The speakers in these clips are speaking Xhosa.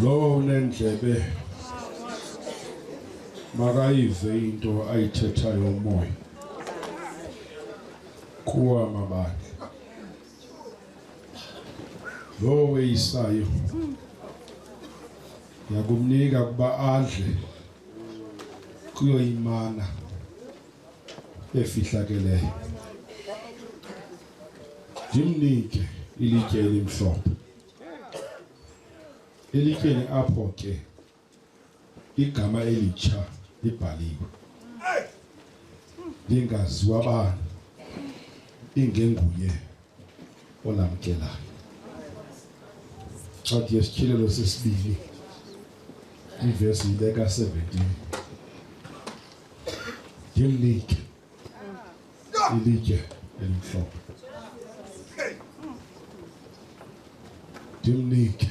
lowo unendlebe makayive into ayithethayo umoya kuwa mabane lowo weyisayo yakumnika kuba adle kuyo imana efihlakeleyo ndimnike ilitye elimhlophe elityeni apho ke igama elitsha libhaliwe ndingaziwa bani ingenguye onamkelayo. Ncwadi yesityhilelo sesibini ivesi ibeka 17 ndimnike ilitye elimhlophe ndimnike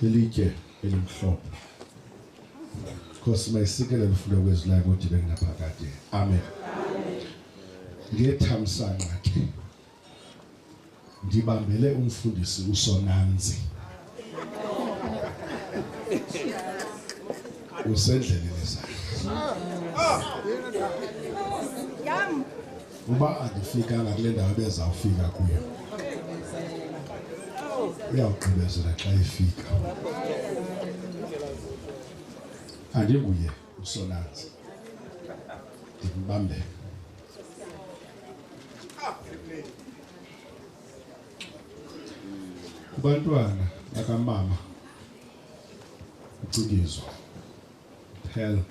lilitye elimhlophe nkosi mayisikele lifuna kwezilayo kodwa ibe kunaphakade amen ngethamsanqa ke ndibambele umfundisi usonanzi usendleleni zakhe uba andifikanga kule ndawo ebezawufika kuyo uyawugqibezela xa efika andinguye usonanzi ndimbambele kubantwana bakamama ucikizwa phela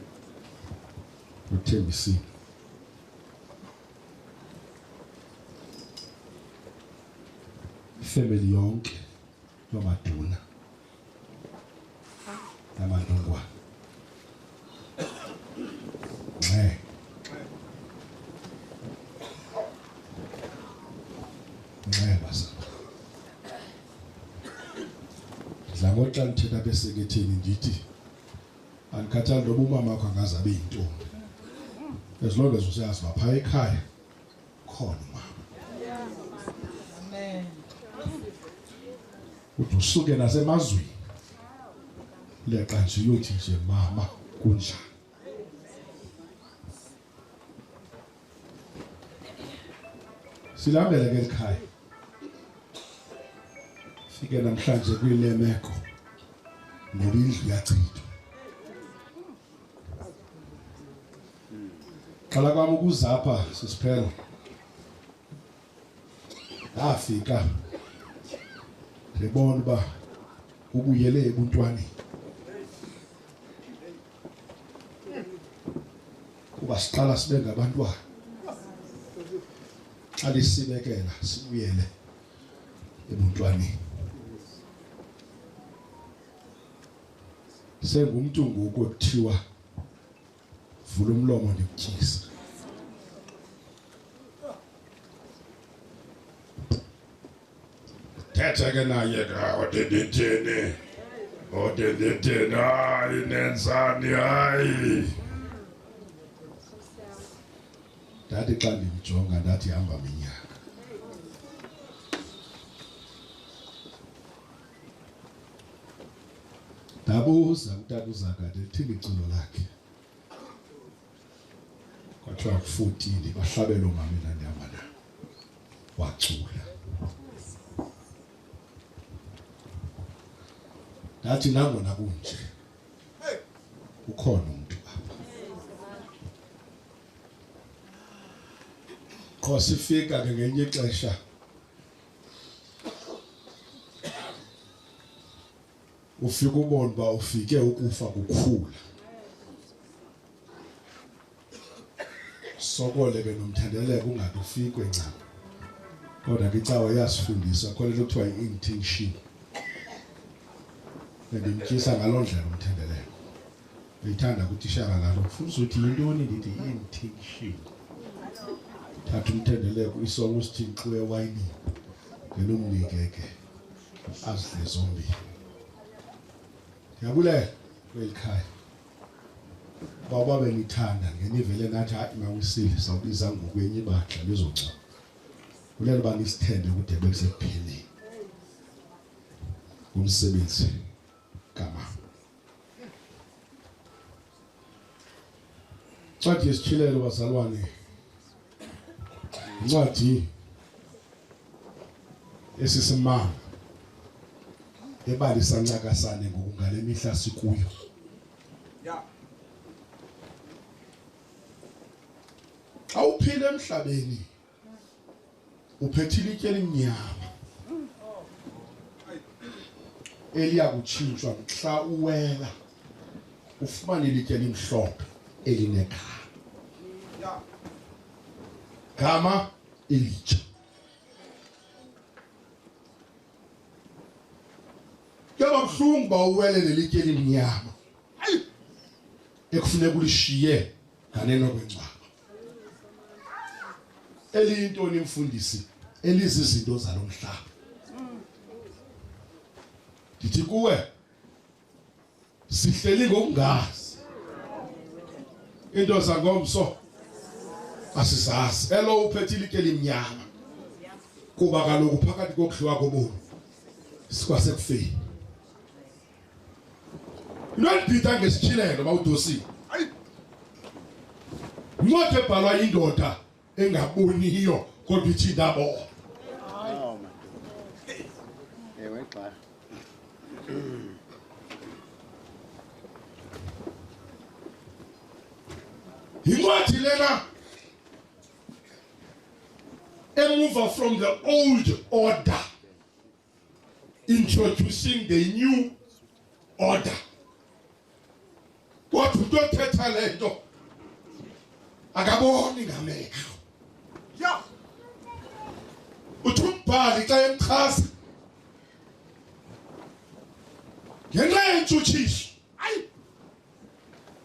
nothembisile ifemeli yonke yamaduna namandungwana nxe nxe bazalwa dla ngoxa ndithetha beseketheni ndithi andikhathali ntoba umama wakho angaze abe yintombi as long as useyazi uba phaa ekhaya khona umama uthi usuke nasemazweni leqa nje uyothi nje mama kunjani silambele ke likhaya fike namhlanje kule meko ngoba indlu yachithwa qala kwam ukuzapha sisiphela ndafika ndibona uba ubuyele ebuntwaneni kuba siqala sibe ngabantwana xa lisibekela sibuyele ebuntwaneni sengumntu ngoku ekuthiwa vula umlomo ndikutyisa thethe ke naye odendithini odendithini hayi nenzani hayi ndathi xa ndimjonga ndathi hamba minyaka ndabuza kutata uzakade lithini iculo lakhe kwathiwa kufotile bahlabela omama endandihamba na wacula ndathi nangona kunje ukhona umntu apha qho sifika ke ngenye ixesha ufike ubone uba ufike ukufa kukhula sokole benomthandeleko ungathi ufikwe ncam kodwa ke icawa iyasifundisa khona into kuthiwa yi-intention and imtyisa ngaloo ndlela umthandeleko ndithanda kutishara lalo ndifuna uzothi yintoni ndithi intention thatha umthendeleko isongo sithi nxu ewayinini ngenomnike ke azidle zombini ndiyabulela kweli khaya uba uba benithanda ngenivele nathi hayi mawisile sawubiza ngokwenye ibaxa lizongcoba kulelo uba nisithembe kude bekuse ngumsebenzi gama ncwadi yesitshilelo bazalwane incwadi esisimanga ebalisa ncakasane ngokungale mihla sikuyo awuphile emhlabeni uphethe ilitye elimnyama eliya kutshintshwa mhla uwela ufumane ilitye elimhlophe elinegama gama elitsha kuyaba buhlungu uba uwelele ilitye elimnyama ekufuneka ulishiye nganeno kwencwaba eliyintoni mfundisi elizizinto zalo mhlaba ndithi kuwe sihleli ngokungazi into zangomso asizazi elo uphethe ilike elimnyama kuba kaloku phakathi kokudliwa kobulu sikwasekufeni Into endibhida ngesitshilelo bawudosile. Hayi. Incwadi ebhalwa indoda engaboniyo kodwa ithi ndabo. Oh my. Ewe xa. Incwadi lena emuva from the old order. introducing the new order. Kodwa umuntu othetha le nto akaboni ngamehlo. Yeah. Uthi umbhali xa emchaza ngenxa yentshutshiso ayi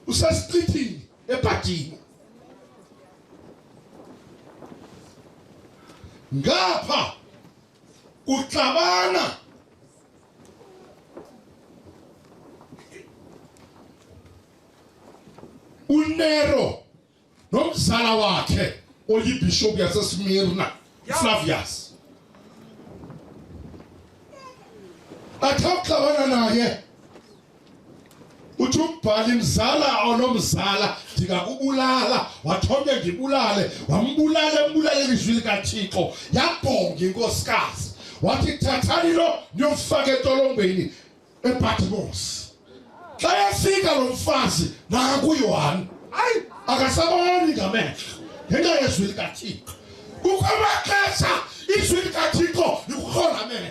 usesichithini ebhadini ngapha Kuxabana uNero nomzala wakhe oyibhishophu yaseSmirna Flavius bathe ukuxabana naye uthi umbhali mzala onomzala ndingakubulala wathome ndibulale wambulala embulale ilizwi likathixo yabhonga inkosikazi wathi thathani lo ndiyomfaka etolongweni ebhatimosi xa yafika lo mfazi nakuyohani ayi akasaboni ngamehlo ngenxa yezwi likathixo kukho amaxesha izwi likathixo likukhona mehlo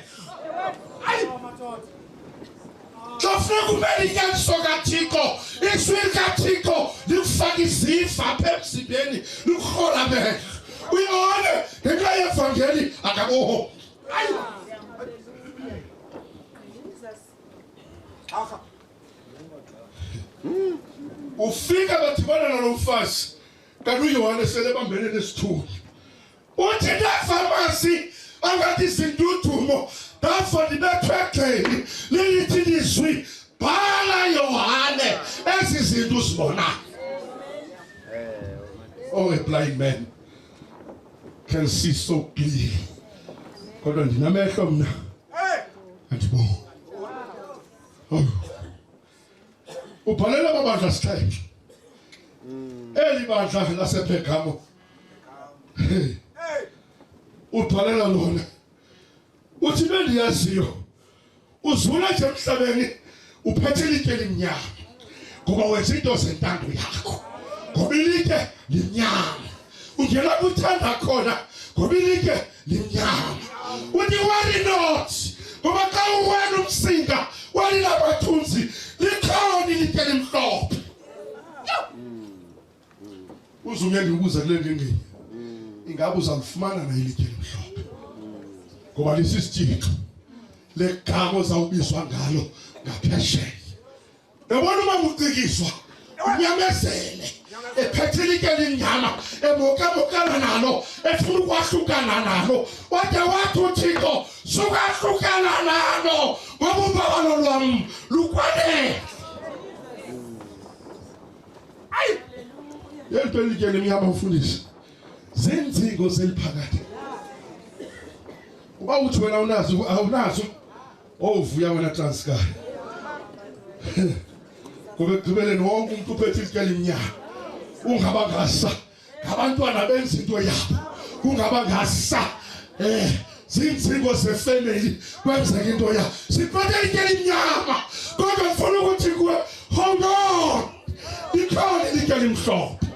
ayi Kufuneka ube linyaniso kaThixo, iswiri kaThixo likufaka iziva apha emzimbeni, likuhola amehlo. Uyibone ngenxa yevangeli akaboho. Hayi. Afa. Ufika bathibana nalo mfazi kanti uYohane sele bambene nesithunywa. Wokyeda pharmacie angati zindutumo tafodi betwekeni lilitidizwi bhala Yohane ezi zinto uzibona. Oh, a blind man can see so clearly. Kodwa ndinamehlo mna. Andiboni. Oh. Ubhalela amabandla sithethe. Eli bandla lasePergamo ubhalela lona uthi bendiyaziyo uzula nje emhlabeni uphethe ilitye elimnyama ngoba wenza into zentando yakho ngoba ilitye limnyama ungena kuthanda khona ngoba ilitye limnyama uthi worry not ngoba xa uwena umsinga walila bathunzi likhona ilitye elimhlophe uzume ndiubuza kule ndingeni ingabe uzalifumana na ilitye elimhlophe ngoba lisisitshixo legama ozawubizwa ngalo ngaphesheya yabona uma kucikiswa unyamezele ephethe ilitye elimnyama emokemokana nalo efuna ukwahlukana nalo wade wathi uthixo sukahlukana nalo ngoba umbabalo lwam lukwanele ayi yento elikene mnyama ufundisi zinzingo zeliphakathi uba uthi wena unazo awunazo owuvuya wena transkar ngoba ekugqibeleni wonke umuntu uphethe ilikela imnyama ungabangasa ngabantwana benza into yabo kungaba ngasa eh zinzingo zefamily kwenzeka into ya siphethe into elinyama kodwa ngifuna ukuthi kuwe hold on ikhona into elimhlophe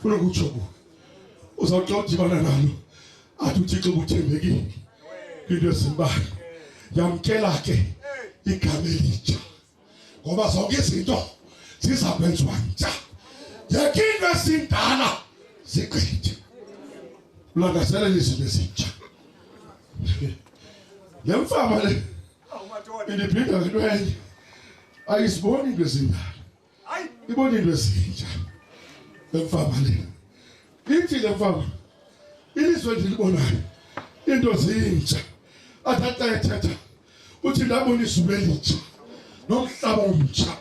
funa ukutsho kuwe uzawuxa udibana nalo athi uthixo ubuthembekile kwinto ezimbalwa yamkela ke igama elitsha ngoba zonke izinto ziza kwenziwa ntsha yeke into esindala zigqithe ulangazelela izinto ezintsha le mfama le indibhinda ngento enye ayiziboni into ezindala ibona into ezintsha le mfama le ithi le mfama ilizwe ndilibonayo into zintsha athatha ethetha uthi ndabona izulu elitsha nomhlaba omtsha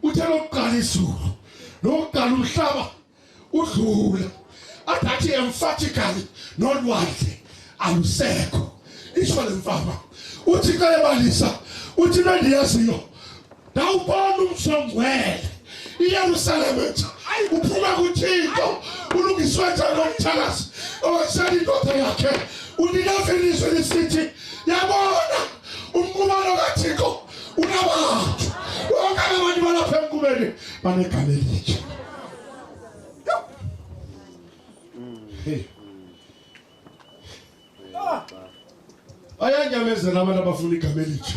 uthe lokuqala izulu nokuqala umhlaba udlula athathi emphatically nolwandle alusekho isho le mfama uthi xa ebalisa uthi nandiyaziyo ndawubona umsongwele iyerusalem entsha uphuma kuthixo ulungiswe njani omthakazi owasela indoda yakhe unikeza ilizwe lisithi yabona umqubano kathixo unabantu bonke abantu balapha emkubeni banegama elitsha bayanyamezela abantu abafuna igama elitsha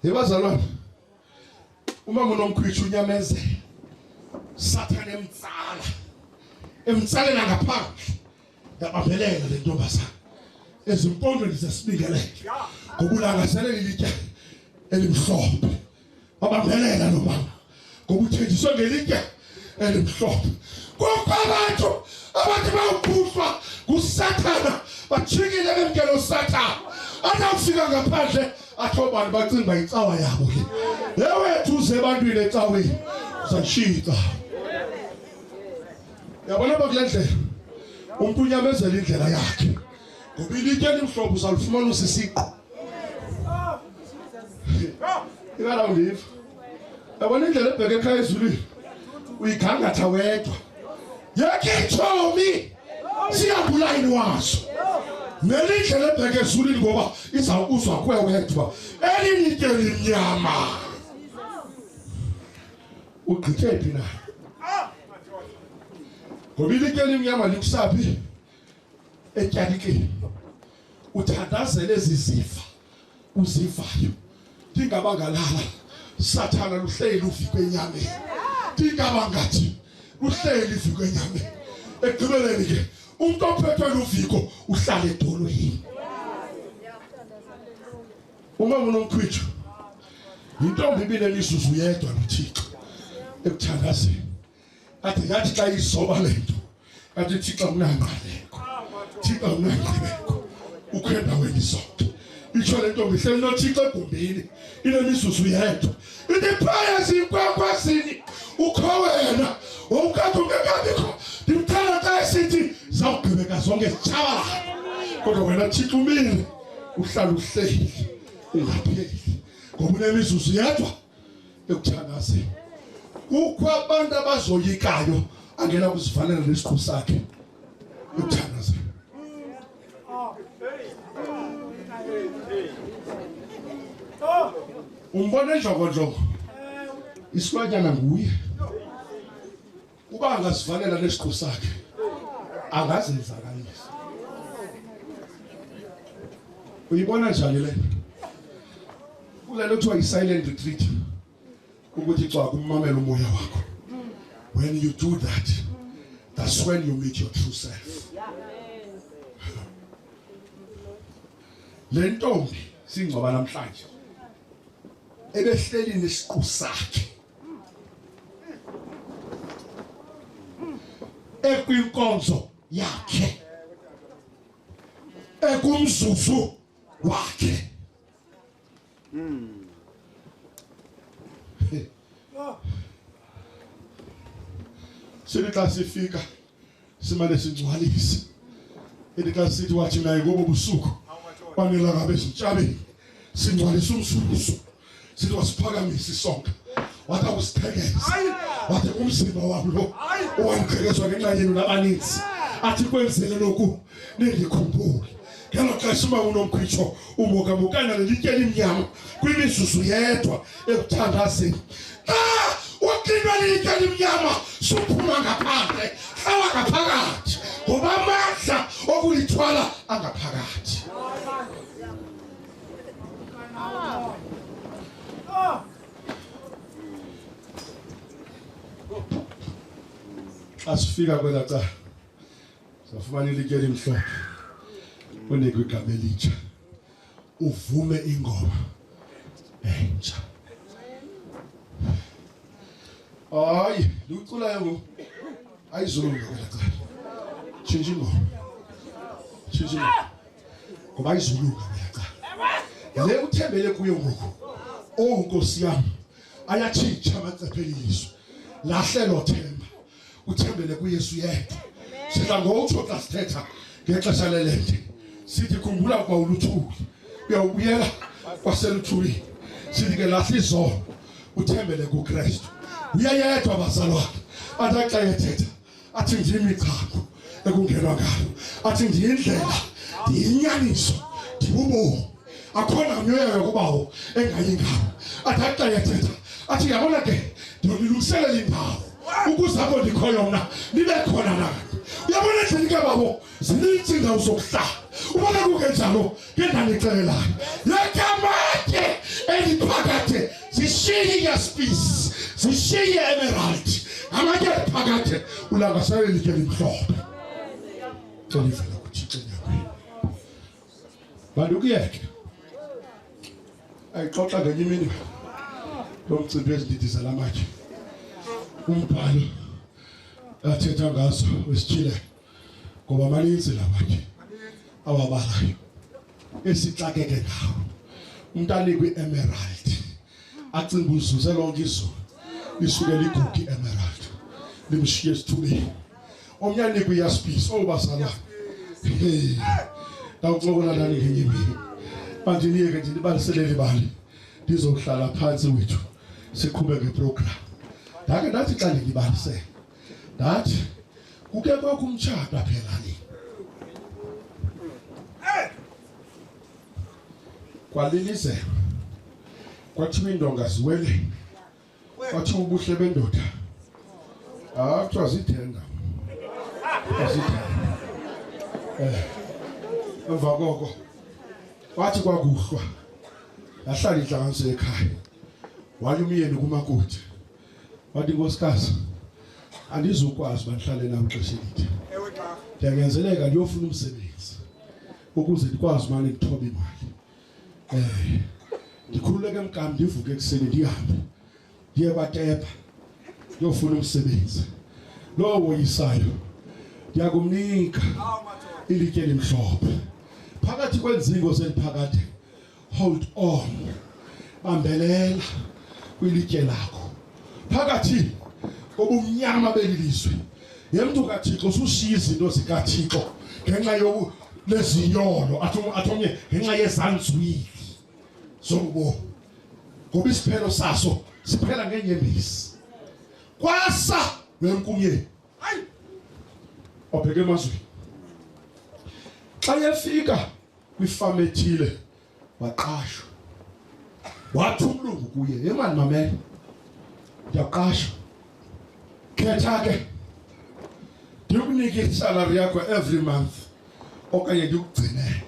yebazalwana umama unomkhwitsha unyamezela sathane emtsala emtsalela ngaphandle yabambelela le ntombazana ezimpondweni zesibingelele ngokulangaselela ilitya elimhlophe wabambelela lo mama ngoba uthenjiswe ngelitye elimhlophe kukho abantu abathi bawuphuswa ngusathana bajikile bemkele usathana atawufika ngaphandle athi obani bacinga uba yitsawa yabo le yewethu uze ebantwini ecaweni uzayishiya icawa yabona bakule ndlela umntu unyamezela indlela yakhe Ngoba ilitye elimhlophe uzalufumana usisiqu. Ikala undiva. Yabona indlela ebheke ekhaya ezulwini. Uyigangatha wedwa. Yekhe itshomi. Siyabulayi waso. Nelindlela ebheke ezulwini ngoba izawukuzwa kwe wedwa. Elinitye limnyama. Ugqithe phi na? Ngoba ilitye elimnyama likusaphi? etyanikeni uthandazele ezi zifa uzivayo ndingaba ngalala sathana luhleli luviko enyameni ndingaba ngathi luhleli liviko enyameni ekugqibeleni ke umntu ophethwe luviko uhlala edolweni uma unomkhwitsho yintombi ibinemizuzu yedwa nothixo ekuthandazeni Kati ngathi xa izoba le nto kati Thixo unangqaleko Thixo unangqibeko ukho endaweni zonke itsho le ntombi ihleli nothixo egumbini inemizuzu yedwa ndiphaya zinkwakwazini ukho wena wawukade ungekabikho ndimthanda xa esithi zawugqibeka zonke zitshabalala kodwa wena thixo umile uhlala uhleli ungapheli ngoba unemizuzu yedwa ekuthandazeni kukho abantu abazoyikayo angena kuzivalela nesiqu sakhe ekuthandazeni umbona enjongonjongo isilwanyana nguye uba angazivalela nesiqu sakhe angazenzakalisa uyibona njani le kule nto kuthiwa yi-silent retreat ukuthi cwa kummamela umoya wakho when you do that that's when you meet your true self le ntombi singcwaba namhlanje ebehleli nesiqu sakhe ekwinkonzo yakhe ekumzuzu wakhe sithi xa sifika simane singcwalise ethi xa sithi wathi naye ngobo busuku banelanga bezintshabeni singcwalise umsukusu sithi wasiphakamisa isonka wathi akusithekeza wathi umzimba wam lo owamqhekezwa ngenxa yenu nabaninzi athi kwenzele loku nindikhumbule ngelo xesha uba unomkhwitsho ubukabukana nelitye elimnyama kwimizuzu yedwa ekuthandazeni xa ah! uxinwa lilitye elimnyama suphuma ngaphandle hlala ngaphakathi ngoba amandla okulithwala angaphakathi asifika kwela cala Safumana ilitye elimhlophe unikwe igama elitsha uvume ingoma entsha. Hayi, liwuculayo ngoku ayizulunga kwela cala. Tshintsha ingoma. Tshintsha ingoma. Ngoba ayizulunga kwela cala. Le uthembele kuyo ngoku. Oh Nkosi yam, ayatshintsha amacephe elizwe. Lahlelo themba. uthembele kuYesu yedwa sidla ngokutsho xa sithetha ngexesha lelende sithi khumbula ukuba uluthuli uyawubuyela kwaseluthulini sithi ke lahla izono uthembele kukristu uyayedwa bazalwane athi axa yethetha athi ndiyimigcambo ekungenwa ngayo athi ndiyindlela ndiyinyaniso ndibubomi akho namnye oyayo kubawo engayi ngawo athi axa yathetha athi yabona ke ndonilungiselela indawo ukuze apho ndikhoyo mna nibe khona nani uyabona endlini ke babo zininzi indawo zokuhlala ubona kungenjalo ke ndandixelelayo yekamatye eliphakade zishiye yaspisi zishiye emerald amatye eliphakade ulangaselelike limhlophe xelivela kuthixo Bantu kuyeke. Ayixoxa ngenye imini lo mcimbi ezindidi zalamatye. Umbhalo athetha ngaso wesitshile ngoba maninzi lamatye awabalayo esixakeke ngawo. Umntu anikwe i-emerald. acinga uzuze lonke izulu lisuke ligugi emerald limshiye esithubeni omnye anikwe iyaspisi obazalwane hey ndawuxokola nani ngenye imini manje niyeke nje nibaliselele ibali ndizohlala phansi wethu siqhube ngeprogram ndake ndathi xa ndingibalise ndathi kuke kwakho umtshato aphelani kwalilize kwathiwa iindonga ziwele kwathiwa ubuhle bendoda ah kuthiwa zithenga azithenga eh emva koko wathi kwakuhlwa yahlala intlanganiso ekhaya waya umyeni kumakoti wathi nkosikazi andizukwazi uba ndihlale nam xesha elide ndiyanyanzeleka ndiyofuna umsebenzi ukuze ndikwazi umane ndithoba imali um ndikhululeke mkam ndivuke ekuseni ndihambe ndiye kwatepa ndiyofuna umsebenzi lowo woyisayo ndiyakumnika ilitye elimhlophe phakathi kwenzingo zeliphakade hold on bambelela kwilitye lakho phakathi kobumnyama beli lizwe ye mntu kathixo usushiya izinto zikathixo ngenxa leziyolo athomnye ngenxa yezanzwili zokubomi ngoba isiphelo saso siphela ngenyembezi kwasa wenkumyeni hayi obheke emazweni xa yefika kwifama ethile waqashwa wathi umlungu kuye yemani mamela ndiyaqashwa khetha ke ndikunike isalari yakho every month okanye ndikugcinele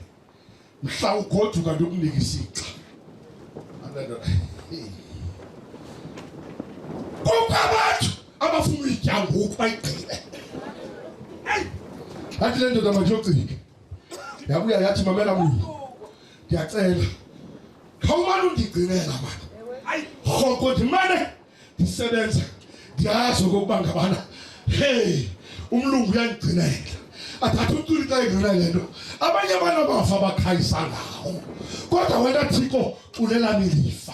mhla ugoduka ndikunike isixa kukho abantu abafuna uyitya ngoku bayigqibe athi le ndoda mandiyogcike yabuya yathi mamela munye ndiyacela khawumane undigcinela mani ayi rhoko ndimane ndisebenza ndiyazi okokuba ngabana heyi umlungu uyandigcinela athatha umculi xa edlula le nto abanye abantu abafa bakhayisa ngawo kodwa wena thixo culelani lifa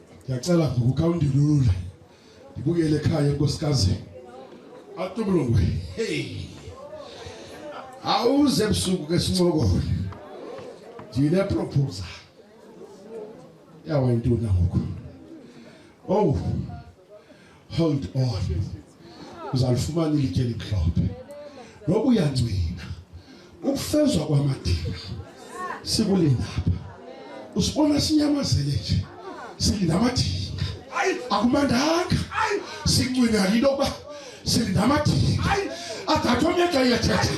ndiyacela ngokuka undilule ndibuyele ekhaya enkosikazi atubulungwe hey awuze ebusuku ke sincokole ndineproposa yawa intoni ngoku owu hold on uzalifumana ilitye elimhlophe noba uyancina ukufezwa kwamadinga sikulindapha usibona sinyamazele nje silinda amadinga akumandanga sincwina yinto yokuba silinda amadinga adatha omyeka iyathetha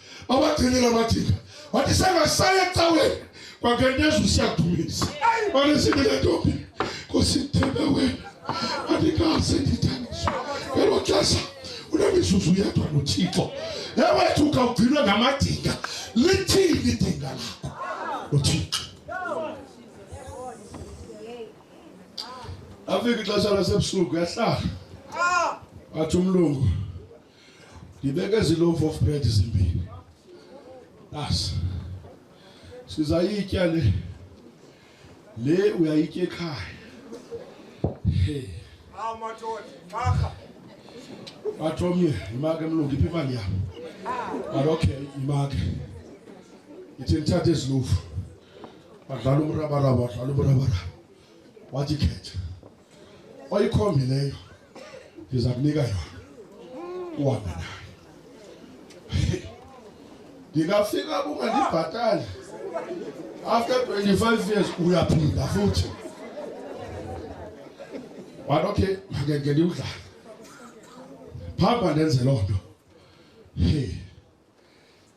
abagcinile amathika wathi sengasaye ecaweni kwangeneza usiyadumisa mane sibile ntombi kusithembe wena andikaze ndithangiswa ngelo xesha unemizuzu yedwa nothixo ewethu ukawugcinwe ngamadinga lithini idinga lakho nothixo afika ixesha lasebusuku yahlala athi umlungu ndibeke ezi loaf of bread zimbini basi sizayitya le le uyayitya ekhaya wathi omnye yimake mlungu iphi imali yam but okay yimake ithi ndithathe ezi lofu badlala umrabaraba badlala umrabaraba wathi khetha oyikhombileyo ndiza kunika yona uhambe nayo ndingafika kungandibhatali after 25 years uyaphinda futhi wathi okay makenge ndiwudlala phamba ndenze loo nto hey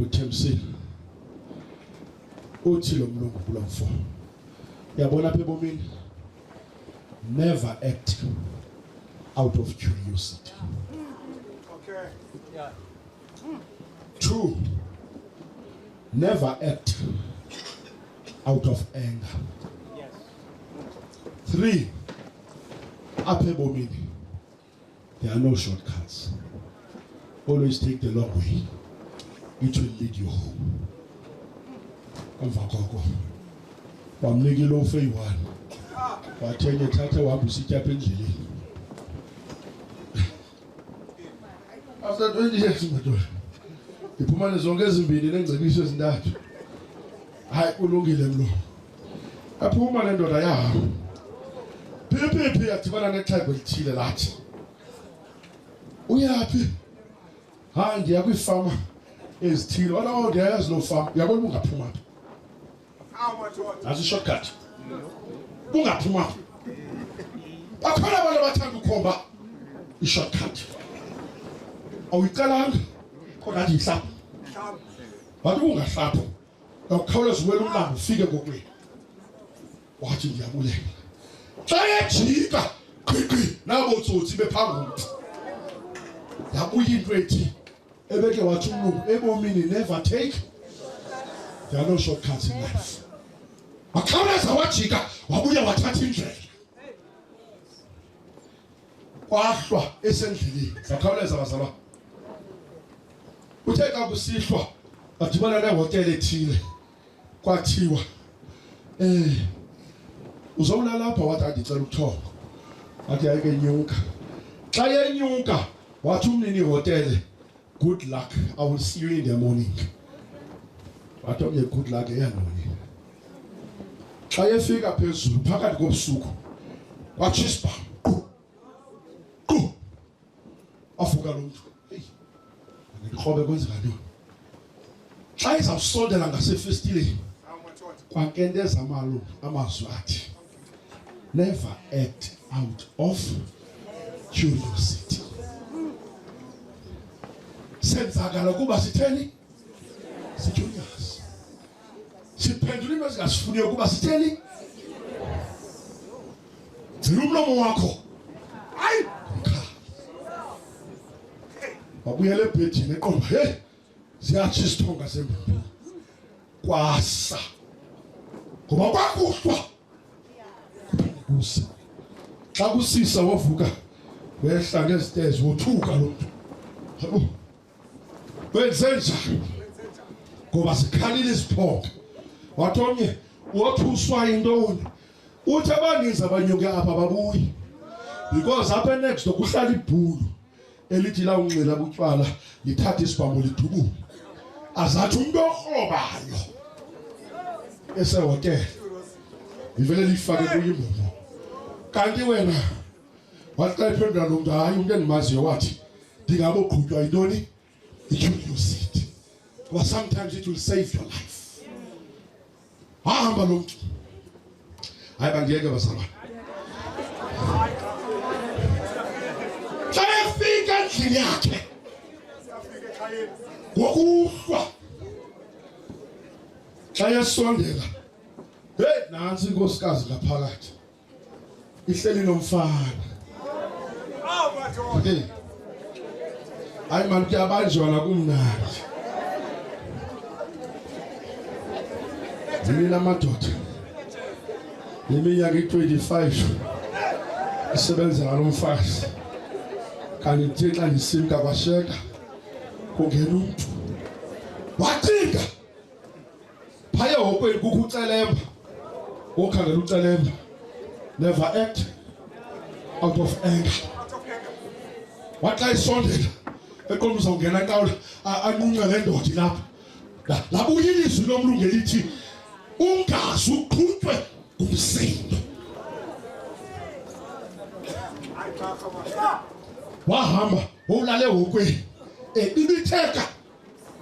uthembisile uthi lo mlungu kulo mfo uyabona apha ebomini never act out of curiosity okay yeah two never act out of anger yes three apha ebomini There are no shortcuts. Always take the long way. It will lead you home. Emva koko wamnika ilofu eyi-one wathi enye thatha wahamba usityapha endleleni after 20 years madoda ndiphumane zonke ezimbini neengcebiso ezintathu hayi ulungile mlo aphuma le ndoda yahamba phiphi yadibana nexhego elithile lathi uyaphi ha ndiya kwiifama ezithile olawo oh, ndiyayazi loo fama uyabona bungaphuma phi azishortcut bungaphuma phi bakhona abantu abathanda ukhomba ishortcut awuyiqalanga kodwa athi yihlapha wathi ungahlapho khawuleza uwela umlambo ufike kokwenu wathi ndiyabulela xa yejika qhiqhi nabo tsotsi bephambili yabuya into ethi ebeke wathi umlungu ebomini never take there are no shortcuts in life wakhawuleza wajika wabuya wathatha indlela kwahlwa esendleleni zakhawuleza bazalwa uthe xa kusihlwa badibana nehotela ethile kwathiwa um uzowulala apha wathi andicela ubuthongo wathi yayike nyuka xa yenyuka wathi umnini ihotele Good luck. I will see you in the morning. Wathi omnye good luck eyantoni. Xa efika phezulu phakathi kobusuku watsho isibhamu. Afuka lo mntu. Heyi, ndikrobe kwenzeka ntoni? Xa izawusondela ngasefestileni kwakenteza amalu amazwi athi Never act out of curiosity. Senzakala ukuba sitheni? Sicurious. Siphendula into ezingasifuniyo ukuba sitheni? Gcina umlomo wakho. Hayi, mkhala. Wabuyela ebhedini eqomba, hey, ziyatsho isithonga sembumbi kwasa ngoba kwakuhlwa kusa xa kusisa wavuka wehla ngezitezi wothuka lo mntu yabo wenze njani ngoba zikhalile izithonga wathi omnye wothuswa yintoni uthi abaninzi abanyuke apha babuyi because apha enext door kuhlala ibhulu elithi lawunxila butywala lithathe isibhambo lidubule azathi umntu orhobayo esehotele livele lifake kuyo imbobo kanti wena wathi xa iphendula lo mntu hayi umntu endimaziyo wathi ndingaboqhutywa yintoni icuriosity because sometimes it will save your life Wahamba lo mntu. Hayi bandiyeke bazalwane. Xa efika endlini yakhe ngokuhlwa xa yesondela heyi nantsi inkosikazi ngaphakathi ihleli nomfana hey hayi mani kuyabanjwa nakumnandi ndinina amadoda neminyaka i-25 isebenzela lo mfazi kanti ndithe xa ndisimka kwasheka kungena umntu wacinga phaya hokweli kukho ucelemba wokhangela ucelemba never act out of anger wathi xa isondela eqonda uzawungena nkawula anqunce le ndoda ilapha labuya ilizwi lomntu ngelithi ungazi uqhutywe ngumsindo wahamba wowulale hokweni ebibitheka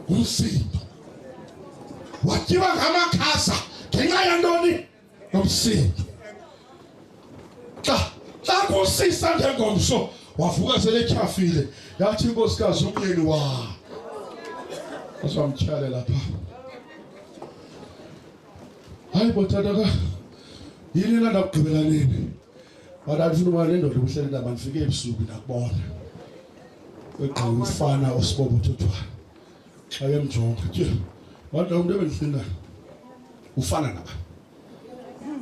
urusindo wakiba nk'amakasa ngenxa yantoni nobusindo xa xa kusisa njengomso wavuka seletyhafile yathi inkosikazi umyeni wa aswamtyhalela pha hayi botata ka yini na ndakugqibela nini But andifuna uba le ndoda ubuhleli ndaba ndifike ebusuku ndakubona. Kwegqa umfana osibobo thothwayo. Xa yemjonga. Tye. Wathi lo mntu ebendisinda ufana naba.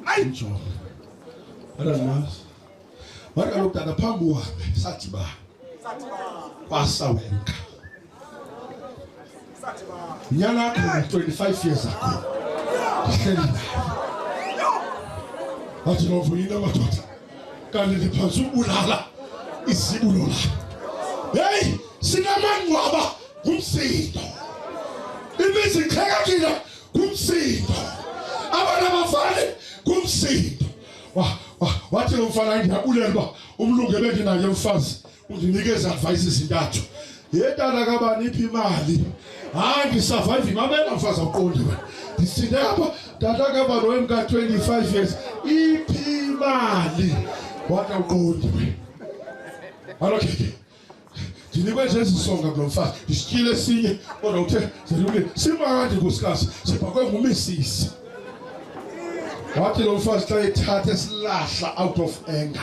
Ayi mjonga. Adandimazi. Wathi kaloku tata phambi uhambe sadibana. Sadibana. Kwasawenka. Nyana yako 25 years ago. Ati novuina matota. Kandi lipazu ulala. Isi ulola. Hey, sinamangu aba kumsindo. Ibizi kaya kila kumsindo. Abana mafani kumsindo. Wa wa wati lomfana ngiyabulela uba umlungu ebendinaye mfazi Undinikeza advice ezintathu. Yetata kabani iphi imali? Hayi ndisurvive mamela mfazi awuqonde wena. Ndisinde apha tata kabani wemka 25 years iphi imali? Wathi awuqondi wena. Alokhe. Ndinikwe nje ezisonga kulo mfazi. Ndisityile esinye kodwa uthe zelule simandi nkosikazi sibhakwe ngumisisi. Wathi lo mfazi xa ethatha esilahla out of anger.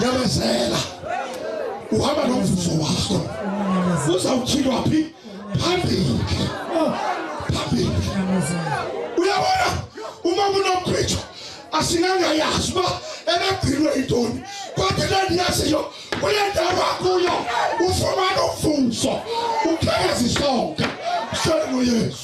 yamezela uhamba nomvuzo wakho uzawutyhilwa phi phambili phambili uyabona uma kunokhwitshwa asingangayazi uba ebegcinwe yintoni kodwa into endiyaziyo kule ndawo akuyo ufumana umvuzo ukhezi sonke senu yesu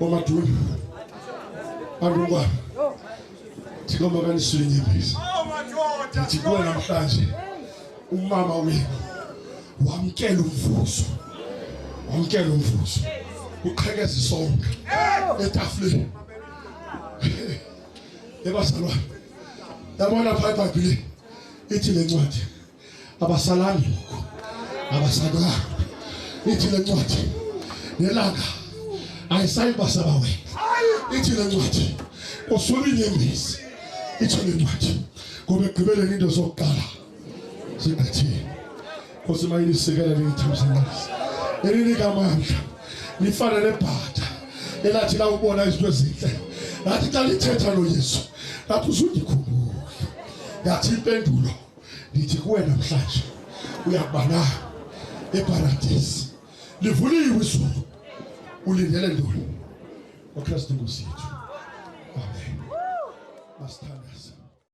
Momadun, Arungwa, tigomba kanisuri nyembezi. Tigwe na mkazi, umama wenu, wamkele umvuzo, wamkele umvuzo, uqhekeze sonke etafuleni ebazalwane yabona phaa ebhayibhileni ithi le ncwadi abasalami ngoku abasakwanga ithi le ncwadi nelanga ayisayibasaba wena ithi le ncwadi kusula inyembezi ithi le ncwadi ngoba ekugqibeleni into zokuqala zingqithile nkosi mayilisekela liyithamsanisi elinika amandla lifana nebhatha elathi lawubona izinto ezinhle lathi xa lithetha loyesu lathi uzundikhumbula yathi impendulo Ndithi kuwe namhlanje uyakuba na eparadisi livuliwe izulu ulindele ntoni wakristu nkosi yethu amen masithandaze